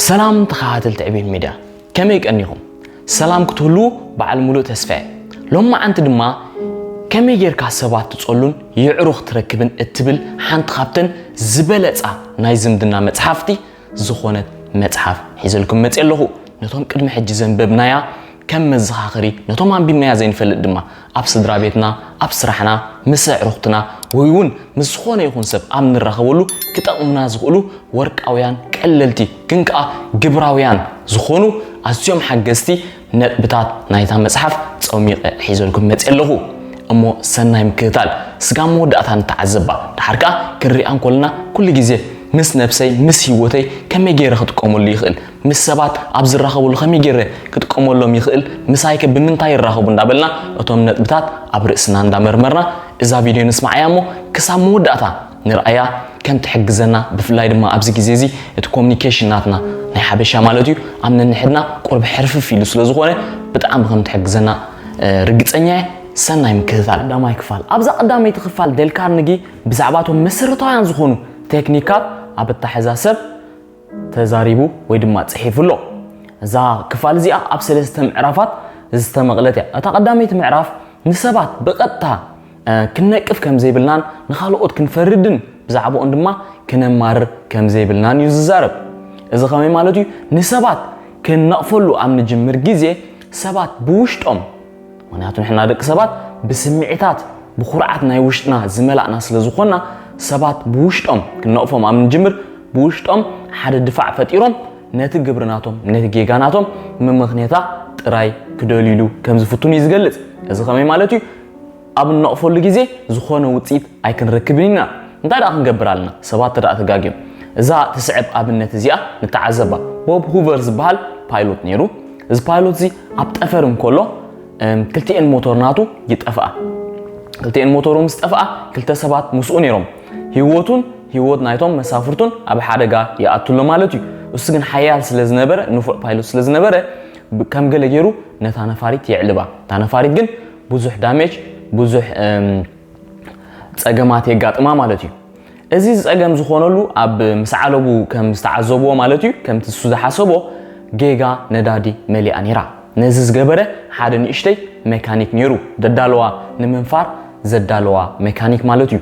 ሰላም ተኸታተልቲ ዕቤት ሚድያ ከመይ ቀኒኹም? ሰላም ክትህልዉ በዓል ሙሉእ ተስፋ እየ። ሎማዓንቲ ድማ ከመይ ጌርካ ሰባት ትጸሉን የዕሩኽ ትረክብን እትብል ሓንቲ ካብተን ዝበለጻ ናይ ዝምድና መጽሓፍቲ ዝኾነት መጽሓፍ ሒዘልኩም መጽየ ኣለኹ። ነቶም ቅድሚ ሕጂ ዘንበብናያ ከም መዘኻኸሪ ነቶም ኣንቢብናያ ዘይንፈልጥ ድማ ኣብ ስድራ ቤትና፣ ኣብ ስራሕና፣ ምስ ኣዕሩኽትና ወይ እውን ምስ ዝኾነ ይኹን ሰብ ኣብ ንራኸበሉ ክጠቕሙና ዝኽእሉ ወርቃውያን፣ ቀለልቲ ግን ከኣ ግብራውያን ዝኾኑ ኣዝዮም ሓገዝቲ ነጥብታት ናይታ መጽሓፍ ጸሚቐ ሒዘልኩም መጺኤ ኣለኹ። እሞ ሰናይ ምክትታል። ስጋብ መወዳእታ ንተዓዘባ፣ ደሓር ከኣ ክንሪኣ እንኮለና ኩሉ ግዜ ምስ ነብሰይ ምስ ሂወተይ ከመይ ገይረ ክጥቀመሉ ይኽእል? ምስ ሰባት ኣብ ዝራኸቡሉ ከመይ ገይረ ክጥቀመሎም ይኽእል ምሳይከ ብምንታይ ይራኸቡ እንዳበልና እቶም ነጥብታት ኣብ ርእስና እንዳመርመርና እዛ ቪድዮ ንስምዓያ እሞ ክሳብ መወዳእታ ንርኣያ ከም ትሕግዘና ብፍላይ ድማ ኣብዚ ግዜ እዚ እቲ ኮሙኒኬሽን ናትና ናይ ሓበሻ ማለት እዩ ኣብ ነንሕድና ቁርብ ሕርፍፍ ኢሉ ስለ ዝኾነ ብጣዕሚ ከም ትሕግዘና ርግጸኛ እየ ሰናይ ምክትታል ቀዳማይ ክፋል ኣብዛ ቀዳመይቲ ክፋል ደልካርንጊ ብዛዕባ እቶም መሰረታውያን ዝኾኑ ቴክኒካት ኣብ ኣታሕዛ ሰብ ተዛሪቡ ወይ ድማ ጽሒፉ ኣሎ። እዛ ክፋል እዚኣ ኣብ ሰለስተ ምዕራፋት ዝተመቕለት እያ። እታ ቀዳመይቲ ምዕራፍ ንሰባት ብቐጥታ ክንነቅፍ ከም ዘይብልናን ንኻልኦት ክንፈርድን ብዛዕባኦም ድማ ክነማርር ከም ዘይብልናን እዩ ዝዛረብ። እዚ ከመይ ማለት እዩ? ንሰባት ክንነቕፈሉ ኣብ ንጅምር ግዜ ሰባት ብውሽጦም ምክንያቱ ንሕና ደቂ ሰባት ብስምዒታት ብኩርዓት ናይ ውሽጥና ዝመላእና ስለ ዝኾና ሰባት ብውሽጦም ክንነቕፎም ኣብ ንጅምር ብውሽጦም ሓደ ድፋዕ ፈጢሮም ነቲ ግብሪ ናቶም ነቲ ጌጋ ናቶም መመኽኔታ ጥራይ ክደልዩሉ ከም ዝፍትኑ እዩ ዝገልጽ እዚ ከመይ ማለት እዩ ኣብ እንነቕፈሉ ግዜ ዝኾነ ውፅኢት ኣይክንረክብን ኢና እንታይ ደኣ ክንገብር ኣለና ሰባት ተደኣ ተጋግዮም እዛ ትስዕብ ኣብነት እዚኣ ንተዓዘባ ቦብ ሁቨር ዝበሃል ፓይሎት ነይሩ እዚ ፓይሎት እዚ ኣብ ጠፈር እንከሎ ክልቲኤን ሞቶር ናቱ ይጠፍኣ ክልቲኤን ሞቶሩ ምስ ጠፍኣ ክልተ ሰባት ምስኡ ነይሮም ህይወቱን ህይወት ናይቶም መሳፍርቱን ኣብ ሓደጋ ይኣቱ ኣሎ ማለት እዩ እሱ ግን ሓያል ስለ ዝነበረ ንፉዕ ፓይሎት ስለ ዝነበረ ከም ገለ ገይሩ ነታ ነፋሪት የዕልባ እታ ነፋሪት ግን ብዙሕ ዳሜጅ ብዙሕ ጸገማት የጋጥማ ማለት እዩ። እዚ ዝጸገም ዝኾነሉ ኣብ ምስ ዓለቡ ከም ዝተዓዘብዎ ማለት እዩ ከምቲ ንሱ ዝሓሰቦ ጌጋ ነዳዲ መሊኣ ኔራ። ነዚ ዝገበረ ሓደ ንእሽተይ መካኒክ ኔሩ ደዳለዋ ንምንፋር ዘዳለዋ መካኒክ ማለት እዩ።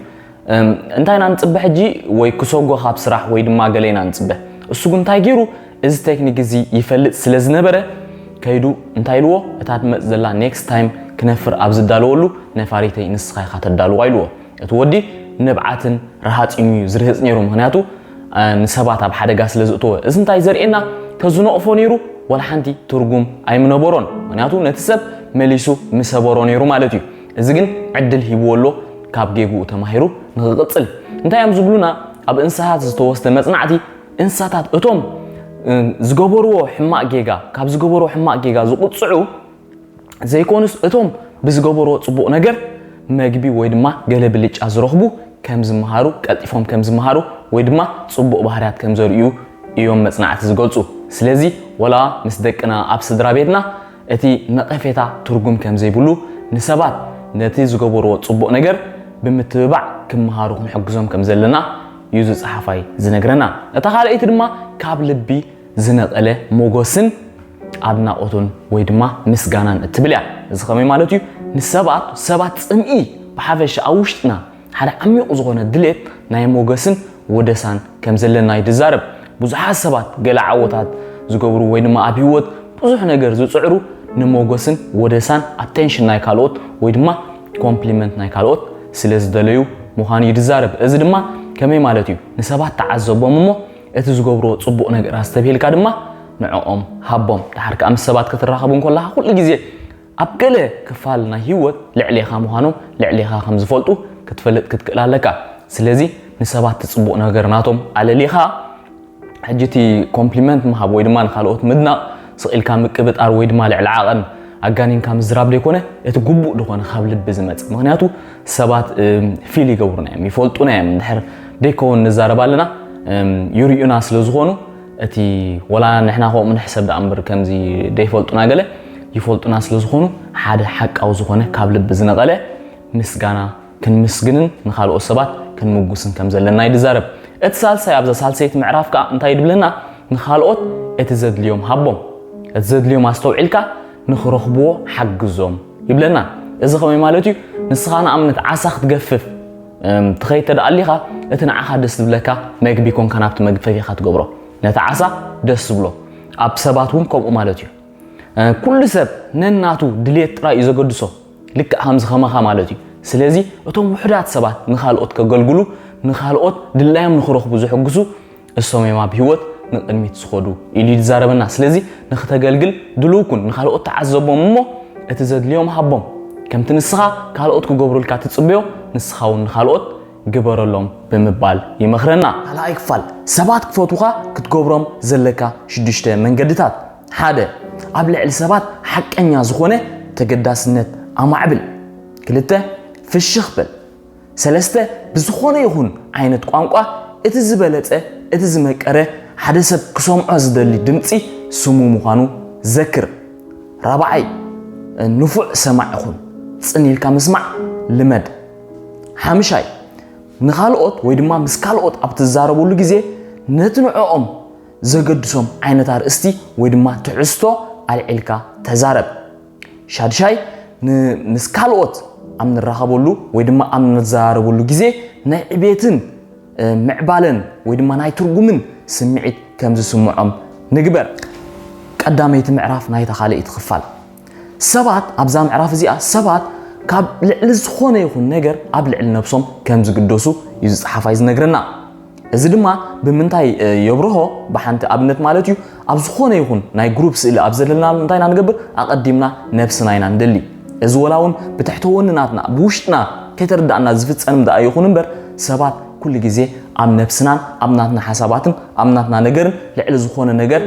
እንታይ ኢና ንጽበ ሕጂ ወይ ክሰጎ ካብ ስራሕ ወይ ድማ ገለ ኢና ንጽበ እሱ ግን እንታይ ጌሩ እዚ ቴክኒክ እዚ ይፈልጥ ስለ ዝነበረ ከይዱ እንታይ ኢልዎ እታ ትመጽእ ዘላ ኔክስት ታይም ክነፍር ኣብ ዝዳለወሉ ነፋሪተይ ንስኻ ኢኻ ተዳልዋ ኢልዎ። እቲ ወዲ ንብዓትን ረሃጺን እዩ ዝርህጽ ነይሩ ምኽንያቱ ንሰባት ኣብ ሓደጋ ስለ ዝእተወ። እዚ እንታይ ዘርእየና ተዝነቕፎ ነይሩ ዋላ ሓንቲ ትርጉም ኣይምነበሮን ምኽንያቱ ነቲ ሰብ መሊሱ ምሰበሮ ነይሩ ማለት እዩ። እዚ ግን ዕድል ሂብዎ ኣሎ ካብ ጌግኡ ተማሂሩ ንኽቕጽል። እንታይ እዮም ዝብሉና ኣብ እንስሃት ዝተወስደ መጽናዕቲ እንስሳታት እቶም ዝገበርዎ ሕማቕ ጌጋ ካብ ዝገበርዎ ሕማቕ ጌጋ ዝቑፅዑ ዘይኮኑስ እቶም ብዝገበርዎ ፅቡቕ ነገር መግቢ ወይ ድማ ገለ ብልጫ ዝረኽቡ ከም ዝመሃሩ ቀልጢፎም ከም ዝመሃሩ ወይ ድማ ፅቡቕ ባህርያት ከም ዘርእዩ እዮም መፅናዕቲ ዝገልፁ ስለዚ ወላ ምስ ደቅና ኣብ ስድራ ቤትና እቲ ነቐፌታ ትርጉም ከም ዘይብሉ ንሰባት ነቲ ዝገበርዎ ፅቡቕ ነገር ብምትብባዕ ክመሃሩ ክንሕግዞም ከም ዘለና እዩ እዚ ጸሓፋይ ዝነግረና። እታ ካልኣይቲ ድማ ካብ ልቢ ዝነቐለ ሞጎስን ኣድናቖቱን ወይ ድማ ምስጋናን እትብል እያ። እዚ ከመይ ማለት እዩ? ንሰባት ሰባት ጽምኢ ብሓፈሻ ኣብ ውሽጥና ሓደ ዓሚቝ ዝኾነ ድሌት ናይ ሞገስን ወደሳን ከም ዘለና እዩ ዝዛረብ። ብዙሓት ሰባት ገለ ዓወታት ዝገብሩ ወይ ድማ ኣብ ህይወት ብዙሕ ነገር ዝጽዕሩ ንሞጎስን ወደሳን ኣቴንሽን ናይ ካልኦት ወይ ድማ ኮምፕሊመንት ናይ ካልኦት ስለ ዝደለዩ ምዃኑ እዩ ዝዛረብ። እዚ ድማ ከመይ ማለት እዩ? ንሰባት ተዓዘቦም እሞ እቲ ዝገብርዎ ጽቡቕ ነገር ኣስተብሂልካ ድማ ንዕኦም ሃቦም። ደሓር ከኣ ምስ ሰባት ክትራኸብ እንከለኻ ኩሉ ግዜ ኣብ ገለ ክፋል ናይ ህይወት ልዕሌኻ ምዃኖም ልዕሌኻ ከም ዝፈልጡ ክትፈልጥ ክትክእል ኣለካ። ስለዚ ንሰባት እቲ ጽቡቕ ነገር ናቶም ኣለሊኻ ሕጂ እቲ ኮምፕሊመንት ምሃብ ወይ ድማ ንኻልኦት ምድናቕ ስቕ ኢልካ ምቅብጣር ወይ ድማ ልዕሊ ዓቐን ኣጋኒንካ ምዝራብ ዘይኮነ እቲ ግቡእ ዝኾነ ካብ ልቢ ዝመጽእ ምኽንያቱ ሰባት ፊል ይገብሩና እዮም ይፈልጡና እዮም እንድሕር ደይከውን ንዛረብ ኣለና ይርእዩና ስለ ዝኾኑ እቲ ወላ ንሕና ከምኡ ንሕሰብ ደኣ እምበር ከምዚ ደይፈልጡና ገለ ይፈልጡና ስለ ዝኾኑ ሓደ ሓቃዊ ዝኾነ ካብ ልቢ ዝነቐለ ምስጋና ክንምስግንን ንኻልኦት ሰባት ክንምጉስን ከም ዘለና እዩ ዝዛረብ። እቲ ሳልሳይ ኣብዛ ሳልሰይቲ ምዕራፍ ከኣ እንታይ ይድብለና? ንኻልኦት እቲ ዘድልዮም ሃቦም። እቲ ዘድልዮም ኣስተውዒልካ ንኽረኽብዎ ሓግዞም ይብለና። እዚ ከመይ ማለት እዩ? ንስኻ ንኣብነት ዓሳ ክትገፍፍ ትኸይድ እንተ ኣሊኻ እቲ ንዓኻ ደስ ዝብለካ መግቢ ኮንካ ናብቲ መግቢ ፈቲኻ ትገብሮ። ነቲ ዓሳ ደስ ዝብሎ። ኣብ ሰባት እውን ከምኡ ማለት እዩ። ኩሉ ሰብ ነናቱ ድሌት ጥራይ እዩ ዘገድሶ። ልክዕ ከምዚ ከማኻ ማለት እዩ። ስለዚ እቶም ውሑዳት ሰባት ንኻልኦት ከገልግሉ፣ ንኻልኦት ድላዮም ንኽረኽቡ ዝሕግዙ እሶም እዮም ኣብ ህይወት ንቕድሚት ዝኸዱ ኢሉ እዩ ዝዛረበና። ስለዚ ንኽተገልግል ድሉው ኩን፣ ንኻልኦት ተዓዘቦም እሞ እቲ ዘድልዮም ሃቦም። ከምቲ ንስኻ ካልኦት ክገብሩልካ ትጽበዮ ንስኻ እውን ንኻልኦት ግበረሎም ብምባል ይመኽረና። ካልኣይ ክፋል፣ ሰባት ክፈትዉኻ ክትገብሮም ዘለካ ሽዱሽተ መንገድታት። ሓደ፣ ኣብ ልዕሊ ሰባት ሓቀኛ ዝኾነ ተገዳስነት ኣማዕብል። ክልተ፣ ፍሽኽ በል። ሰለስተ፣ ብዝኾነ ይኹን ዓይነት ቋንቋ እቲ ዝበለጸ፣ እቲ ዝመቀረ፣ ሓደ ሰብ ክሰምዖ ዝደሊ ድምጺ ስሙ ምዃኑ ዘክር። ራብዓይ፣ ንፉዕ ሰማዒ ኹን። ጽን ኢልካ ምስማዕ ልመድ። ሓምሻይ፣ ንኻልኦት ወይ ድማ ምስ ካልኦት ኣብ ትዛረበሉ ግዜ ነቲ ንዕኦም ዘገድሶም ዓይነት ኣርእስቲ ወይ ድማ ትሕዝቶ ኣልዒልካ ተዛረብ። ሻድሻይ፣ ምስ ካልኦት ኣብ ንራኸበሉ ወይ ድማ ኣብ ንዘራረበሉ ግዜ ናይ ዕቤትን ምዕባለን ወይ ድማ ናይ ትርጉምን ስምዒት ከም ዝስምዖም ንግበር። ቀዳመይቲ ምዕራፍ ናይታ ካልኣይቲ ክፋል ሰባት ኣብዛ ምዕራፍ እዚኣ ሰባት ካብ ልዕሊ ዝኾነ ይኹን ነገር ኣብ ልዕሊ ነብሶም ከም ዝግደሱ እዩ ዝጸሓፋይ ዝነግረና። እዚ ድማ ብምንታይ የብርሆ ብሓንቲ ኣብነት ማለት እዩ ኣብ ዝኾነ ይኹን ናይ ግሩፕ ስእሊ ኣብ ዘለናሉ እንታይ ኢና ንገብር ኣቐዲምና ነብስና ኢና ንደሊ እዚ ወላ እውን ብትሕተ ወንናትና ብውሽጥና ከይተረዳእና ዝፍፀንም ደኣ ይኹን እምበር ሰባት ኩሉ ግዜ ኣብ ነብስናን ኣብ ናትና ሓሳባትን ኣብ ናትና ነገርን ልዕሊ ዝኾነ ነገር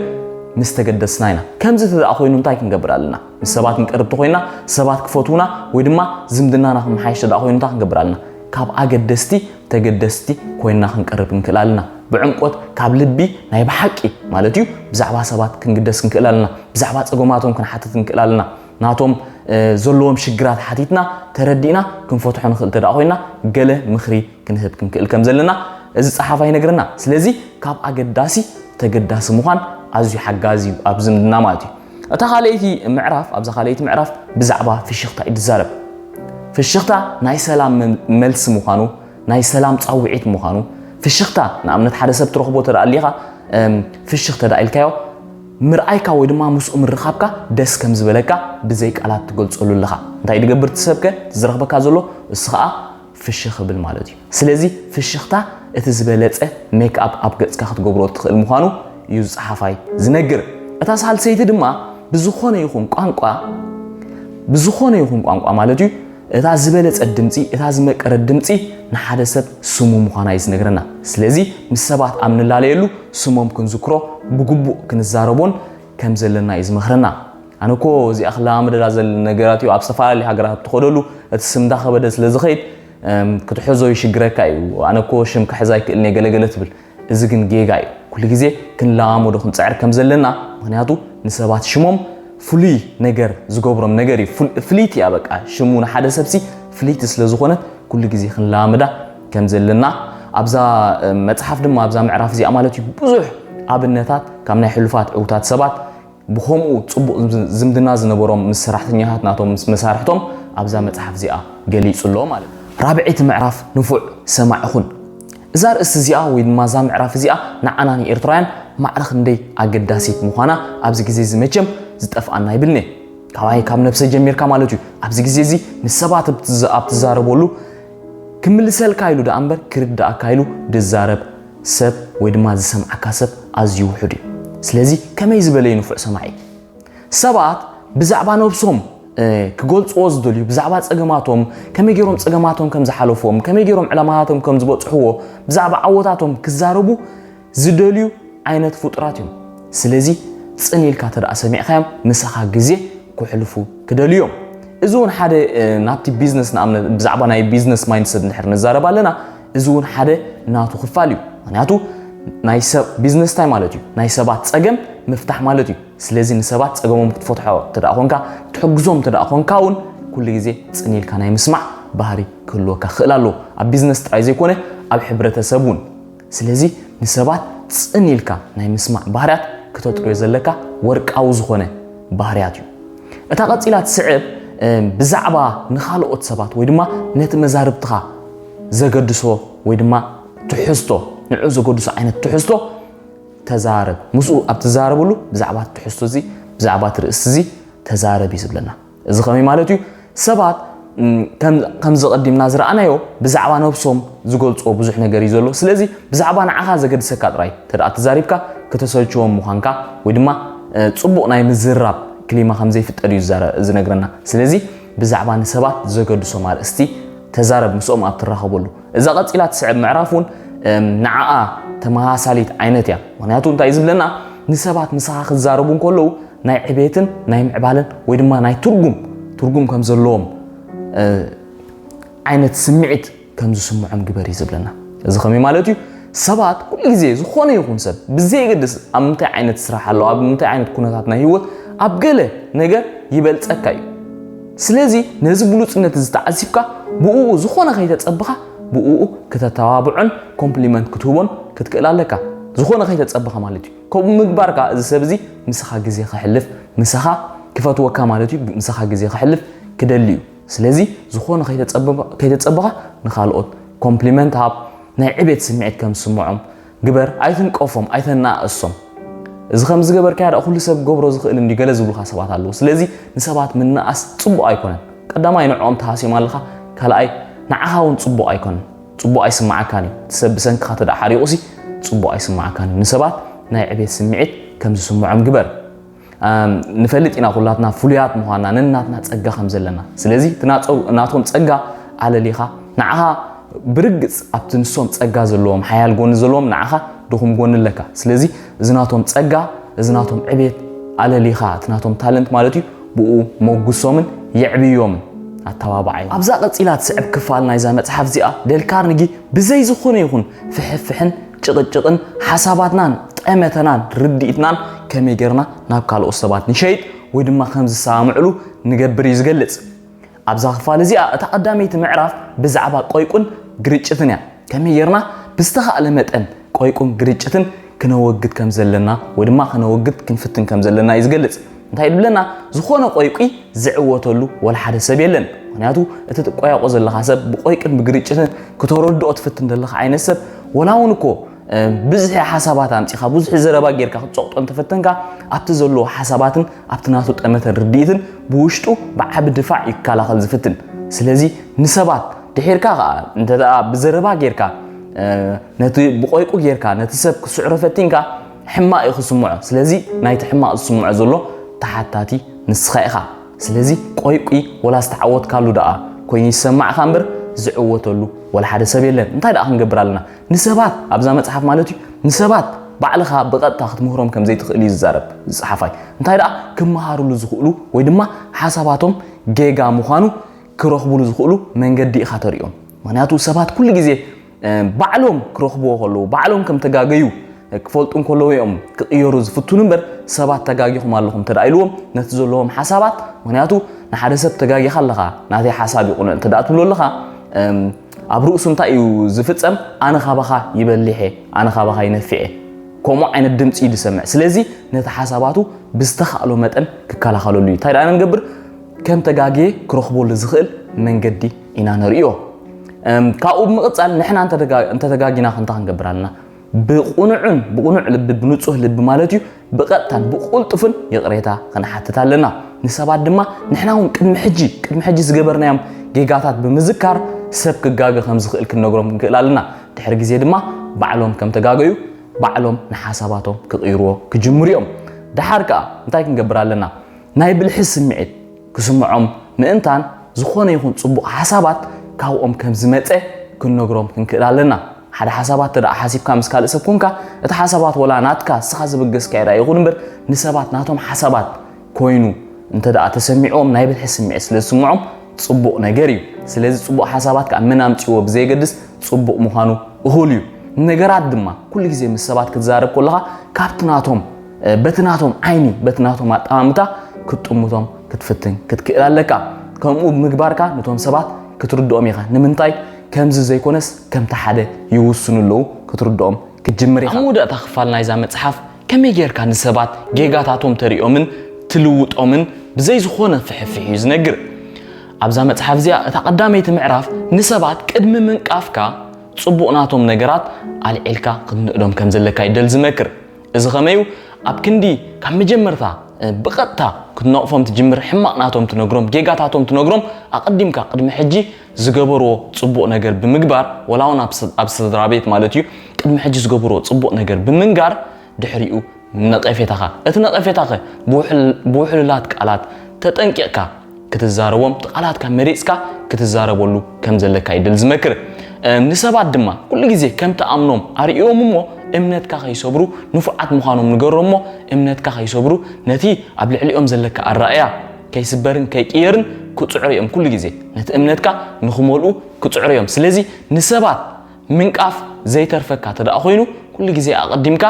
ምስ ተገደስና ኢና ከምዚ ተደኣ ኮይኑ እንታይ ክንገብር ኣለና ምስ ሰባት ክንቀርብ ተኮይና ሰባት ክፈትውና ወይ ድማ ዝምድናና ክመሓየሽ ተደኣ ኮይኑ እንታይ ክንገብር ኣለና ካብ ኣገደስቲ ተገደስቲ ኮይንና ክንቀርብ ክንክእል ኣለና። ብዕምቆት ካብ ልቢ ናይ ብሓቂ ማለት እዩ ብዛዕባ ሰባት ክንግደስ ክንክእል ኣለና። ብዛዕባ ጸገማቶም ክንሓትት ክንክእል ኣለና። ናቶም ዘለዎም ሽግራት ሓቲትና ተረዲእና ክንፈትሖ ንኽእል እንተ ኮይና ገለ ምኽሪ ክንህብ ክንክእል ከም ዘለና እዚ ጸሓፋ ይነግረና። ስለዚ ካብ ኣገዳሲ ተገዳሲ ምዃን ኣዝዩ ሓጋዚ እዩ ኣብ ዝምድና ማለት እዩ። እታ ካልኣይቲ ምዕራፍ ኣብዛ ካልኣይቲ ምዕራፍ ብዛዕባ ፍሽኽታ እዩ ዝዛረብ። ፍሽኽታ ናይ ሰላም መልሲ ምዃኑ፣ ናይ ሰላም ጻውዒት ምዃኑ፣ ፍሽኽታ ንኣብነት ሓደ ሰብ ትረኽቦ ተደኣ ኣሊኻ ፍሽኽ ተደኣ ኢልካዮ ምርኣይካ ወይ ድማ ምስኡ ምርኻብካ ደስ ከም ዝበለካ ብዘይ ቃላት ትገልጸሉ ኣለኻ። እንታይ ድገብር ትሰብከ ዝረኽበካ ዘሎ እሱ ኸኣ ፍሽኽ እብል ማለት እዩ። ስለዚ ፍሽኽታ እቲ ዝበለጸ ሜክኣፕ ኣብ ገጽካ ክትገብሮ እትኽእል ምዃኑ እዩ ዝጸሓፋይ ዝነግር። እታ ሳልሰይቲ ድማ ብዝኾነ ይኹን ቋንቋ ብዝኾነ ይኹን ቋንቋ ማለት እዩ እታ ዝበለጸት ድምጺ እታ ዝመቀረት ድምጺ ንሓደ ሰብ ስሙ ምዃና እዩ ዝነግረና። ስለዚ ምስ ሰባት ኣብ ንላለየሉ ስሞም ክንዝክሮ ብግቡእ ክንዛረቦን ከም ዘለና እዩ ዝመኽረና። ኣነ እኮ እዚኣ ክለማመደላ ዘለኒ ነገራት እዩ ኣብ ዝተፈላለዩ ሃገራት ኣብ ትኸደሉ እቲ ስም እንዳኸበደ ስለ ዝኸይድ ክትሕዞ ይሽግረካ እዩ ኣነ እኮ ሽም ክሕዝ ኣይክእልን እየ ገለገለ ትብል እዚ ግን ጌጋ እዩ ኩሉ ግዜ ክንለማመዶ ክንፅዕር ከም ዘለና ምክንያቱ ንሰባት ሽሞም ፍሉይ ነገር ዝገብሮም ነገር እዩ ፍልይቲ እያ በቃ ሽሙ ንሓደ ሰብሲ ፍልይቲ ስለ ዝኾነት ኩሉ ግዜ ክንለማመዳ ከም ዘለና ኣብዛ መፅሓፍ ድማ ኣብዛ ምዕራፍ እዚኣ ማለት እዩ ብዙሕ ኣብነታት ካብ ናይ ሕሉፋት ዕውታት ሰባት ብኸምኡ ጽቡቕ ዝምድና ዝነበሮም ምስ ሰራሕተኛታት ናቶም ምስ መሳርሕቶም ኣብዛ መጽሓፍ እዚኣ ገሊጹ ኣሎ ማለት እዩ። ራብዐይቲ ምዕራፍ ንፉዕ ሰማዒ ኹን። እዛ ኣርእስቲ እዚኣ ወይ ድማ እዛ ምዕራፍ እዚኣ ንዓና ንኤርትራውያን ማዕረ ክንደይ ኣገዳሲት ምዃና ኣብዚ ግዜ እዚ መቸም ዝጠፍኣና ኣይብልን እየ። ካባይ ካብ ነብሰይ ጀሚርካ ማለት እዩ። ኣብዚ ግዜ እዚ ምስ ሰባት ኣብ ትዛረበሉ ክምልሰልካ ኢሉ ደኣ እምበር ክርድኣካ ኢሉ ድዛረብ ሰብ ወይ ድማ ዝሰምዓካ ሰብ ኣዝዩ ውሑድ እዩ። ስለዚ ከመይ ዝበለ እዩ ንፉዕ ሰማዒ? ሰባት ብዛዕባ ነብሶም ክገልጽዎ ዝደልዩ ብዛዕባ ጸገማቶም ከመይ ገይሮም ጸገማቶም ከም ዝሓለፍዎም ከመይ ገይሮም ዕላማታቶም ከም ዝበጽሕዎ ብዛዕባ ዓወታቶም ክዛረቡ ዝደልዩ ዓይነት ፍጡራት እዮም። ስለዚ ጽን ኢልካ ተደኣ ሰሚዕካዮም ምሳኻ ግዜ ክሕልፉ ክደልዩ እዮም። እዚ እውን ሓደ ናብቲ ቢዝነስ ንኣብነት ብዛዕባ ናይ ቢዝነስ ማይንድሰት እንድሕር ንዛረብ ኣለና እዚ እውን ሓደ ናቱ ክፋል እዩ ምክንያቱ ናይ ሰብ ቢዝነስ እንታይ ማለት እዩ ናይ ሰባት ፀገም ምፍታሕ ማለት እዩ ስለዚ ንሰባት ፀገሞም ክትፈትሖ እንተ ኮንካ ትሕግዞም እንተ ኮንካ እውን ኩሉ ግዜ ፅን ኢልካ ናይ ምስማዕ ባህሪ ክህልወካ ክኽእል ኣለዎ ኣብ ቢዝነስ ጥራይ ዘይኮነ ኣብ ሕብረተሰብ እውን ስለዚ ንሰባት ፅን ኢልካ ናይ ምስማዕ ባህርያት ክተጥርዮ ዘለካ ወርቃዊ ዝኾነ ባህርያት እዩ እታ ቀፂላ ትስዕብ ብዛዕባ ንካልኦት ሰባት ወይ ድማ ነቲ መዛርብትኻ ዘገድሶ ወይ ድማ ትሕዝቶ ንዑ ዘገድሶ ዓይነት ትሕዝቶ ተዛረብ ምስኡ ኣብ ትዛረብሉ ብዛዕባ ትሕዝቶ እዚ ብዛዕባ ትርእስቲ እዚ ተዛረብ እዩ ዝብለና እዚ ከመይ ማለት እዩ ሰባት ከምዚ ቀዲምና ዝረኣናዮ ብዛዕባ ነብሶም ዝገልፅዎ ብዙሕ ነገር እዩ ዘሎ ስለዚ ብዛዕባ ንዓኻ ዘገድሰካ ጥራይ ተደኣ ተዛሪብካ ከተሰልችዎም ምዃንካ ወይ ድማ ፅቡቕ ናይ ምዝራብ ክሊማ ከም ዘይፍጠር እዩ ዝነግረና ስለዚ ብዛዕባ ንሰባት ዘገድሶም ኣርእስቲ ተዛረብ ምስኦም ኣብ ትራኸበሉ። እዛ ቀጺላ ትስዕብ ምዕራፍ እውን ንዓኣ ተመሳሳሊት ዓይነት እያ። ምክንያቱ እንታይ ዝብለና ንሰባት ምሳኻ ክዛረቡ እንከለዉ ናይ ዕቤትን ናይ ምዕባለን ወይ ድማ ናይ ትርጉም ትርጉም ከም ዘለዎም ዓይነት ስምዒት ከም ዝስምዖም ግበር እዩ ዝብለና። እዚ ከመይ ማለት እዩ? ሰባት ኩሉ ግዜ ዝኾነ ይኹን ሰብ ብዘየገድስ ኣብ ምንታይ ዓይነት ስራሕ ኣሎ፣ ኣብ ምንታይ ዓይነት ኩነታት ናይ ህይወት ኣብ ገለ ነገር ይበልጸካ እዩ። ስለዚ ነዚ ብሉጽነት እዚ ተዓዚብካ ብእኡ ዝኾነ ከይተጸብኻ ብእኡ ክተተባብዖን ኮምፕሊመንት ክትህቦን ክትክእል ኣለካ። ዝኾነ ከይተጸብኻ ማለት እዩ። ከምኡ ምግባርካ እዚ ሰብ እዚ ምሳኻ ግዜ ከሕልፍ፣ ምሳኻ ክፈትወካ ማለት እዩ፣ ምሳኻ ግዜ ከሕልፍ ክደሊ እዩ። ስለዚ ዝኾነ ከይተጸበኻ ንኻልኦት ኮምፕሊመንት ሃብ፣ ናይ ዕቤት ስምዒት ከም ዝስምዖም ግበር፣ ኣይትንቀፎም፣ ኣይተነኣእሶም። እዚ ከም ዝገበርካያ ደኣ ኩሉ ሰብ ክገብሮ ዝኽእል እንድዩ ገለ ዝብሉኻ ሰባት ኣለዉ። ስለዚ ንሰባት ምንኣስ ጽቡቕ ኣይኮነን። ቀዳማይ ንዕኦም ትሃስዮም ኣለኻ፣ ካልኣይ ንዓኻ እውን ጽቡቕ ኣይኮነን። ጽቡቕ ኣይስምዓካን እዩ። እቲ ሰብ ብሰንክኻ እንተደኣ ሓሪቑሲ ጽቡቕ ኣይስምዓካን እዩ። ንሰባት ናይ ዕቤት ስምዒት ከም ዝስምዖም ግበር። ንፈልጥ ኢና ኩላትና ፍሉያት ምዃንና ነናትና ጸጋ ከም ዘለና ስለዚ እቲ ናቶም ጸጋ ኣለሊኻ ንዓኻ ብርግጽ ኣብቲ ንሶም ጸጋ ዘለዎም ሓያል ጎኒ ዘለዎም ንዓኻ ድኹም ጎኒ ኣለካ ስለዚ እዚ ናቶም ጸጋ እዚ ናቶም ዕቤት ኣለሊኻ እቲ ናቶም ታለንት ማለት እዩ ብኡ ሞጉሶምን የዕብዮምን ኣተባባዓይ ኣብዛ ቀጺላ ትስዕብ ክፋል ናይዛ መጽሓፍ እዚኣ ደል ካርንጊ ብዘይ ዝኾነ ይኹን ፍሕፍሕን ጭቕጭቕን ሓሳባትናን ጠመተናን ርድኢትናን ከመይ ጌርና ናብ ካልኦት ሰባት ንሸይጥ ወይ ድማ ከም ዝሰማምዕሉ ንገብር እዩ ዝገልጽ። ኣብዛ ክፋል እዚኣ እታ ቀዳመይቲ ምዕራፍ ብዛዕባ ቆይቁን ግርጭትን እያ። ከመይ ጌርና ብዝተኻእለ መጠን ቆይቁን ግርጭትን ክነወግድ ከም ዘለና ወይ ድማ ክነወግድ ክንፍትን ከም ዘለና እዩ ዝገልጽ። እንታይ ድብለና ዝኾነ ቆይቁይ ዝዕወተሉ ወላ ሓደ ሰብ የለን ምክንያቱ እቲ ትቆያቆ ዘለካ ሰብ ብቆይቅን ብግርጭትን ክተረድኦ ትፍትን ዘለካ ዓይነት ሰብ ወላ እውን እኮ ብዝሒ ሓሳባት ኣምፂኻ ብዙሒ ዘረባ ጌርካ ክትፀቕጦ እንተፈተንካ ኣብቲ ዘለዎ ሓሳባትን ኣብቲ ናቱ ጠመተን ርድኢትን ብውሽጡ ብዓቢ ድፋዕ እዩ ክከላኸል ዝፍትን ስለዚ ንሰባት ድሒርካ ከዓ እንተ ብዘረባ ጌርካ ነቲ ብቆይቁ ጌርካ ነቲ ሰብ ክስዕሮ ፈቲንካ ሕማቅ እዩ ክስምዖ ስለዚ ናይቲ ሕማቅ ዝስምዖ ዘሎ ተሓታቲ ንስካ ኢካ ስለዚ ቆይቊ ወላ ዝተዓወትካሉ ደኣ ኮይኑ ይሰማዕካ እምበር ዝዕወተሉ ወላ ሓደ ሰብ የለን እንታይ ደኣ ክንገብር ኣለና ንሰባት ኣብዛ መጽሓፍ ማለት እዩ ንሰባት ባዕልኻ ብቐጥታ ክትምህሮም ከም ዘይትኽእል እዩ ዝዛረብ ዝጸሓፋይ እንታይ ደኣ ክመሃርሉ ዝኽእሉ ወይ ድማ ሓሳባቶም ጌጋ ምዃኑ ክረኽብሉ ዝኽእሉ መንገዲ ኢኻ ተሪኦም ምክንያቱ ሰባት ኩሉ ግዜ ባዕሎም ክረኽብዎ ከለዉ፣ ባዕሎም ከም ተጋገዩ ክፈልጡ እንከለዉ እዮም ክቕየሩ ዝፍትኑ እምበር ሰባት ተጋጊኹም ኣለኹም እንተ ኢልዎም ነቲ ዘለዎም ሓሳባት ምክንያቱ ንሓደ ሰብ ተጋጊኻ ኣለኻ ናተይ ሓሳብ ይቑነ እንተ ትብሎ ኣለኻ ኣብ ርእሱ እንታይ እዩ ዝፍጸም ኣነ ካባኻ ይበሊሕ እየ ኣነ ካባኻ ይነፊዕ እየ ከምኡ ዓይነት ድምፂ እዩ ዝሰምዕ ስለዚ ነቲ ሓሳባቱ ብዝተኻእሎ መጠን ክከላኸለሉ እዩ እንታይ ደኣ ንገብር ከም ተጋግየ ክረኽበሉ ዝኽእል መንገዲ ኢና ንርእዮ ካብኡ ብምቕፃል ንሕና እንተተጋጊና ክንታ ክንገብር ኣለና ብቁኑዕን ብቁኑዕ ልቢ ብንጹህ ልቢ ማለት እዩ ብቐጥታን ብቁልጡፍን ይቕሬታ ክንሓትት ኣለና ንሰባት ድማ ንሕና እውን ቅድሚ ሕጂ ቅድሚ ሕጂ ዝገበርናዮም ጌጋታት ብምዝካር ሰብ ክጋገ ከም ዝኽእል ክንነግሮም ክንክእል ኣለና ድሕሪ ግዜ ድማ ባዕሎም ከም ተጋገዩ ባዕሎም ንሓሳባቶም ክቕይርዎ ክጅምሩ እዮም ደሓር ከዓ እንታይ ክንገብር ኣለና ናይ ብልሒ ስምዒት ክስምዖም ምእንታን ዝኾነ ይኹን ጽቡቕ ሓሳባት ካብኦም ከም ዝመጸ ክንነግሮም ክንክእል ኣለና። ሓደ ሓሳባት እንተደኣ ሓሲብካ ምስ ካልእ ሰብ ኮንካ፣ እቲ ሓሳባት ወላ ናትካ ንስኻ ዘበገስካዮ ደኣ ይኹን እምበር ንሰባት ናቶም ሓሳባት ኮይኑ እንተደኣ ተሰሚዕዎም ናይ ብልሒ ስምዒት ስለ ዝስምዖም ጽቡቕ ነገር እዩ። ስለዚ ጽቡቕ ሓሳባት ከኣ መን ኣምጺእዎ ብዘየገድስ ጽቡቕ ምዃኑ እኹል እዩ። ንነገራት ድማ ኩሉ ግዜ ምስ ሰባት ክትዛረብ ከለኻ ካብቲ ናቶም በቲ ናቶም ዓይኒ በቲ ናቶም ኣጠማምታ ክትጥምቶም ክትፍትን ክትክእል ኣለካ ከምኡ ምግባርካ ነቶም ሰባት ክትርድኦም ኢኻ ንምንታይ ከምዚ ዘይኮነስ ከምቲ ሓደ ይውስኑ ኣለዉ ክትርድኦም ክትጅምር ኢኻ ኣብ መወዳእታ ክፋል ናይዛ መጽሓፍ ከመይ ጌርካ ንሰባት ጌጋታቶም ተርእዮምን ትልውጦምን ብዘይ ዝኾነ ፍሕፍሕ እዩ ዝነግር ኣብዛ መጽሓፍ እዚኣ እታ ቀዳመይቲ ምዕራፍ ንሰባት ቅድሚ ምንቃፍካ ጽቡቕ ናቶም ነገራት ኣልዒልካ ክትንእዶም ከም ዘለካ ይደል ዝመክር እዚ ከመይ እዩ ኣብ ክንዲ ካብ መጀመርታ ብቐጥታ ክትነቕፎም ትጅምር ሕማቕ ናቶም ትነግሮም ጌጋታቶም ትነግሮም ኣቐዲምካ ቅድሚ ሕጂ ዝገበርዎ ጽቡቕ ነገር ብምግባር ወላ እውን ኣብ ስድራ ቤት ማለት እዩ ቅድሚ ሕጂ ዝገበርዎ ጽቡቕ ነገር ብምንጋር ድሕሪኡ ነቐፌታኻ እቲ ነቐፌታኸ ብውሕሉላት ቃላት ተጠንቂቕካ ክትዛረቦም እቲ ቃላትካ መሪጽካ ክትዛረበሉ ከም ዘለካ እዩ ድል ዝመክር ንሰባት ድማ ኩሉ ግዜ ከም ትኣምኖም ኣርእዮም እሞ እምነትካ ከይሰብሩ ንፉዓት ምዃኖም ንገሮም እሞ እምነትካ ከይሰብሩ ነቲ ኣብ ልዕሊኦም ዘለካ ኣረኣእያ ከይስበርን ከይቅየርን ክጽዕሩ እዮም ኩሉ ግዜ ነቲ እምነትካ ንክመልኡ ክጽዕሩ እዮም ስለዚ ንሰባት ምንቃፍ ዘይተርፈካ ተደኣ ኮይኑ ኩሉ ግዜ ኣቐዲምካ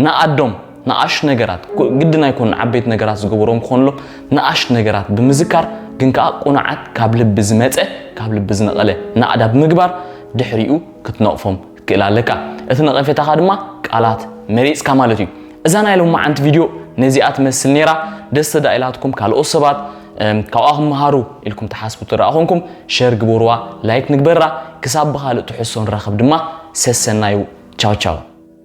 ንኣዶም ንኣሽቱ ነገራት፣ ግድን ኣይኮኑን ዓበይቲ ነገራት ዝገበርዎም ክኾኑሎም፣ ንኣሽቱ ነገራት ብምዝካር ግን ከኣ ቅኑዓት ካብ ልቢ ዝመጸ ካብ ልቢ ዝነቐለ ናእዳ ብምግባር ድሕሪኡ ክትነቕፎም ክትክእል ኣለካ። እቲ ነቐፌታኻ ድማ ቃላት መሪጽካ ማለት እዩ። እዛ ናይ ሎማዓንቲ ቪድዮ ነዚኣ ትመስል ኔራ። ደስ ተዳኢላትኩም ካልኦት ሰባት ካብኣ ክመሃሩ ኢልኩም ትሓስቡ እንተደኣ ኮንኩም ሸር ግበርዋ ላይክ ንግበራ። ክሳብ ብኻልእ ትሕዝቶ ንራኸብ ድማ ሰሰናዩ ቻው ቻው።